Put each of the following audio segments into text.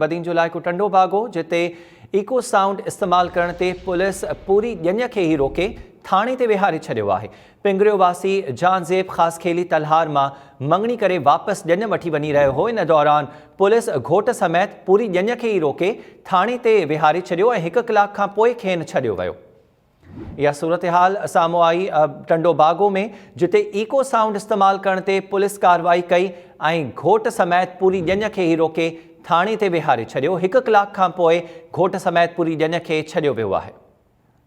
بدين جو علائقو ٽنڊو باغ هو، جتي ايڪو سائونڊ استعمال ڪرڻ تي پوليس پوري ڄڃ کي ئي روڪي ٿاڻي تي ويهاري ڇڏيو آهي. پنگريو واسي جهانزيب خاصخيلي تلهار مان مڱڻي ڪري واپس ڄڃ وٺي وڃي رهيو هو، ان دوران پوليس گهوٽ سميت پوري ڄڃ کي ئي روڪي ٿاڻي تي ويهاري ڇڏيو ۽ هڪ ڪلاڪ کانپوء کين ڇڏيو ويو. اها صورتحال سامهون آئي ٽنڊو باگو ۾ جتي ايڪو سائونڊ استعمال ڪرڻ تي پوليس ڪارروائي ڪئي ۽ گهوٽ سميت پوري ڄڃ کي ئي روڪي ٿاڻي تي ويهاري ڇڏيو هڪ ڪلاڪ کان پوء گهوٽ سميت پوري ڄڃ کي ڇڏيو ويو آهي.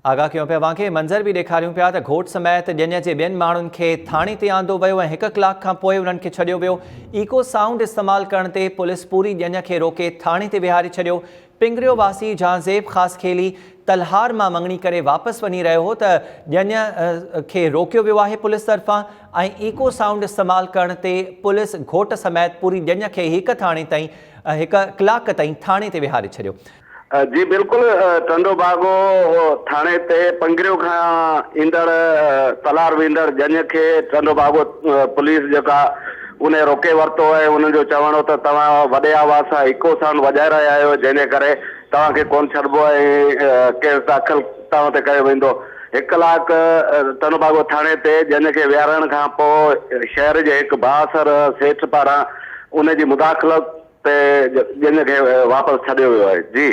آگاهه ڪيون پيا اوهان کي منظر به ڏيکاريون پيا ته گهوٽ سميت ڄڃ جي ٻين ماڻهن کي ٿاڻي تي آندو ويو ۽ هڪ ڪلاڪ کان پوء انهن کي ڇڏيو ويو ايڪو سائونڊ استعمال ڪرڻ تي پوليس پوري ڄڃ کي روڪي ٿاڻي تي ويهاري ڇڏيو پنگريو واسي جهانزيب خاصخيلي تلهار مان مڱڻي ڪري واپس وڃي رهيو هو ته ڄڃ کي روڪيو ويو آهي پوليس طرفان ۽ ايڪو سائونڊ استعمال ڪرڻ تي پوليس گهوٽ سميت پوري ڄڃ کي هڪ ٿاڻي تائين هڪ ڪلاڪ تائين ٿاڻي تي ويهاري ڇڏيو. جي بلڪل ٽنڊو باگو ٿاڻي تي پنگريو کان ايندڙ تلهار ويندڙ ڄڃ کي ٽنڊو باگو پوليس جيڪا انهن روڪي ورتو ۽ انهن جو چوڻ هو ته توهان وڏي آواز سان ايڪو سائونڊ وڄائي رهيا آهيو جنهن جي ڪري توهان کي ڪونه ڇڏبو ۽ ڪيس داخل توهان تي ڪيو ويندو. هڪ ڪلاڪ تنوڀاڳو ٿاڻي تي جنهن کي ويهارڻ کان پوء شهر جي هڪ بااثر سيٺ پاران ان جي مداخلت تي جنهن کي واپس ڇڏيو ويو آهي. جي.